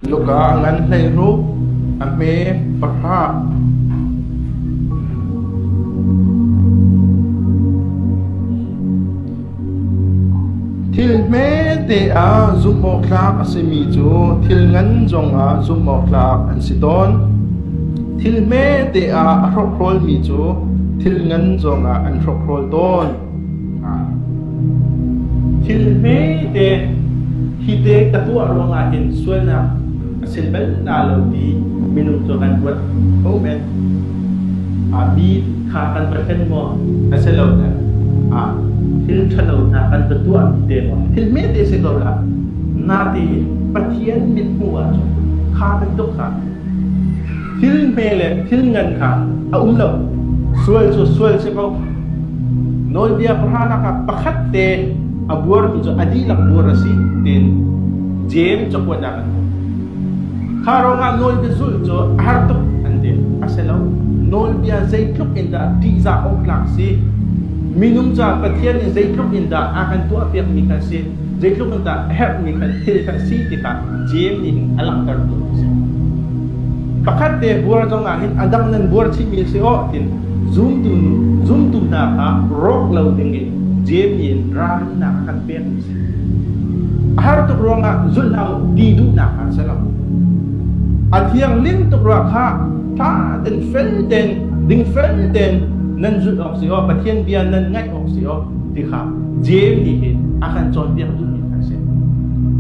Luka ah ngan hleihrup a hme pahrah. Thil hmete ah zumhawktlak a simi cu thil ngan zongah zumhawktlak an si tawn. Thil hmete ah a hrokhrawl mi cu thil ngan zongah an hrokhrawl tawn. Thil hmete hi te ka tuah ruangah hin sualnak a si bal na lo ti minung cu kan ruat ko men. Mi tha kan va thlen maw a si lo ne. Thil thalo hna kan va tuah te maw thil hmete si ko la. Nate Pathian min hmuh ahcun kha bantuk kha Thil hme le thil ngan kha a um lo, sual cu sual a si ko. Nawlbia pahranak ah pakhat te a buarmi cu a dihlak buar a si tiin Jeim cakuatnak an hmuh. Kha ruangah nawlbia zulh cu a har tuk an ti. A si lo, nawlbia zeitluk in dah ṭihzah awk tlak a si, minung caah Pathian nih zeitluk in dah a kan tuahpiakmi kha a si. Zeitluk in dah a herhmi kha thil kha a si ti kha Jeim nih hin a langhtertu a si. Pakhat te buar zong ah hin a dang nan buar chihmi a si awh tiin zumtu zumtu hna kha rawk lo ding in Jeim nih in rannak a kan pekmi a si. A har tuk ruangah zulh hlah u ti duhnak kha a si lo. A thiangling tuk ruang kha tha tein fel tein ding fel tein nan zulh awk si awh Pathian bia nan ngaih thawng si awk ti kha JMD hin a kan cawnpiak duhmi a si.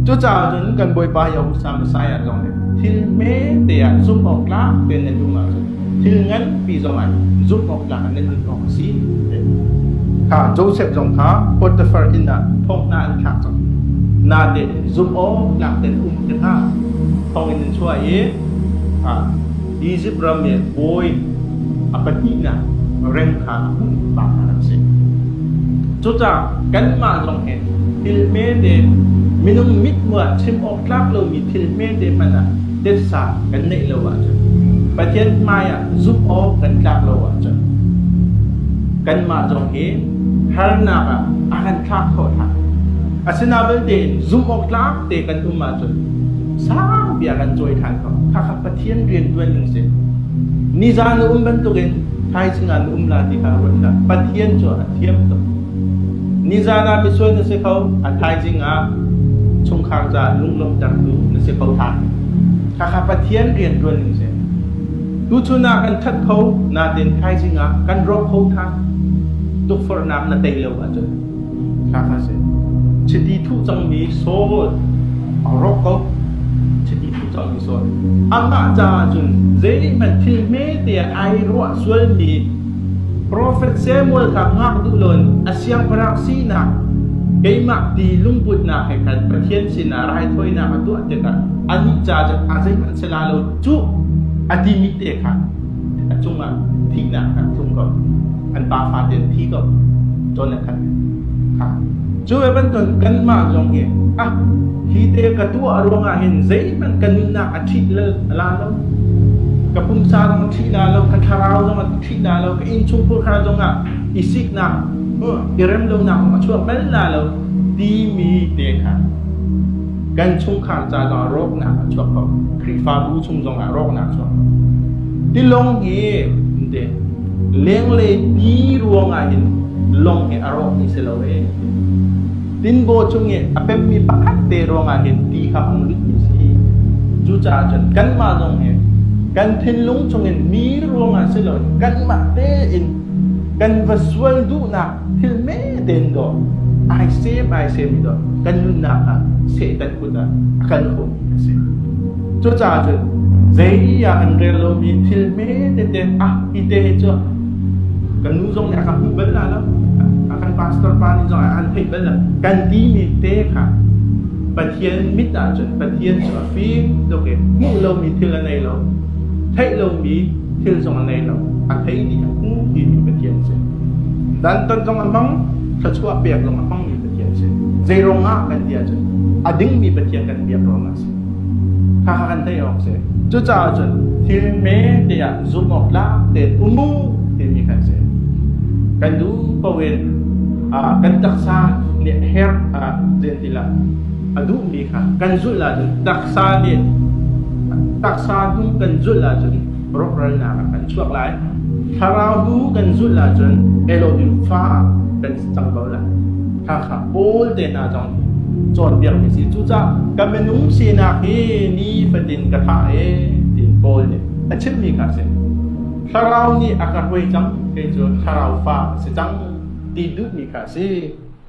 Cucaah cun kan Bawipa Yahusa Messiah zong nih thil hmete ah zumh awk tlak tein nan duh ahcun thil nganpi zong ah zumh awk tlak nan nun awk a si. Kha Joseph zong kha Potiphar inn ah thawngna an thlak cang. Nate zumh awk tlak tein um ti kha thawng in an chuah i Izipt ram i bawi a pahnihnak reng kha a hmuh pa hna an si. Cucaah kanmah zong hi thil hmete minung mithmuh ah chim awk tlak lomi thil hmete hmanh ah titsa kan neih lo ahcun, Pathian hmaiah zumh awk kan tlak lo ahcun, kanmah zong hi harnak ah a kan thlak khawh hna. Asinain vialte zumh awk tlak te kan um ahcun sang bia kan cawi ṭhan ko. Khakha Pathian rianṭuan ding si. Nizan na um bantukin thaizing ah na um la ti kha ruat hlah. Pathian cu a thiam tuk. Nizan ah misual na si kho, a thaizing ah chungkhar caah lunglawmhtertu na si kho hlah. Khakha Pathian rianṭuan ding si. Tuchun ah kan that kho, natin thaizing ah kan rawk kho tha. Tukforhnak na tei lo ahcun Chiti thuh cangmi Saul a rawk ko. Chiti thuh cangmi Saul. Amah caah cun zeihmanh thil hmete ah ai ruah sualmi Profet Samuel kha ngak duh lawn a siangpahrang sinak keimah ti lungputnak he khan Pathian sinah raithawinak a tuah tikah anih ca cu a zeihmanh a si la lo cuh a timi te kha a cungah thihnak an tlung ko an pa fate an thi ko cun a khat cu e bantuk kanmah zong hi ah hi te ka tuah ruangah hin zeihmanh ka nunnak a ṭhit la lo ka pumsa zong a ṭhit la lo ka thlarau zong a ṭhit la lo ka innchungkhur kha zong ah i siknak i rem lonak a chuak bal la lo timi te kha Kan chungkhar ca zongah rawknak a chuak ko. Khrihfabu chung zongah rawknak a chuak ko. Tilawng hi ante lenglei ti ruangah hin lawng hi a rawk mi si lo e. Tinbaw chung i a pemmi pakhat te ruangah hin ti kha a lut mi si. Cucaah cun kanmah zong hi kan thinlung chungin mi ruangah si lo in kanmah tein kan va sual duhnak Thil hme tein dawh, ai sem ai semmi dawh kan nunnak ah Satan kut ah a kal khawhmi a si. Cucaah cun zeiah an rel lomi thil hme tete ah hi te hi cu kan nu zong nih a kan hmuh bal la lo a kan pastor pa nih zong an theih bal la kan timi te kha Pathian mit ah cun Pathian cu a fim tuk i hmuh lomi thil a nei lo theih lomi thil zong a nei lo a thei dih a hmu timi Pathian a si. Dantat zong a hmang, thluachuah pek zong a hmangmi Pathian si. Zeirong ah kan ti ahcun a dingmi Pathian kan biak ruang a si. Kha kan theih awk si. Cucaah cun thil hme tiah zumh awk tlak tein um u timi kan si. Kan duh paohin ah kan taksa nih her a zentilah a duhmi kha kan zulh ahcun taksa nih taksa hnung kan zulh ahcun rawkralnak ah kan chuak lai. Thlarau bu kan zulh ahcun Elohim fa ah kan cang ko lai. Hakha Paul te hna zong cawnpiak mi si cucah ka minung sinak hi ni fatin ka tha e tiin Paul nih a chim mi kha si. Thlarau nih a ka hruai cang kei cu thlarau fa a si cang ti duh mi kha si.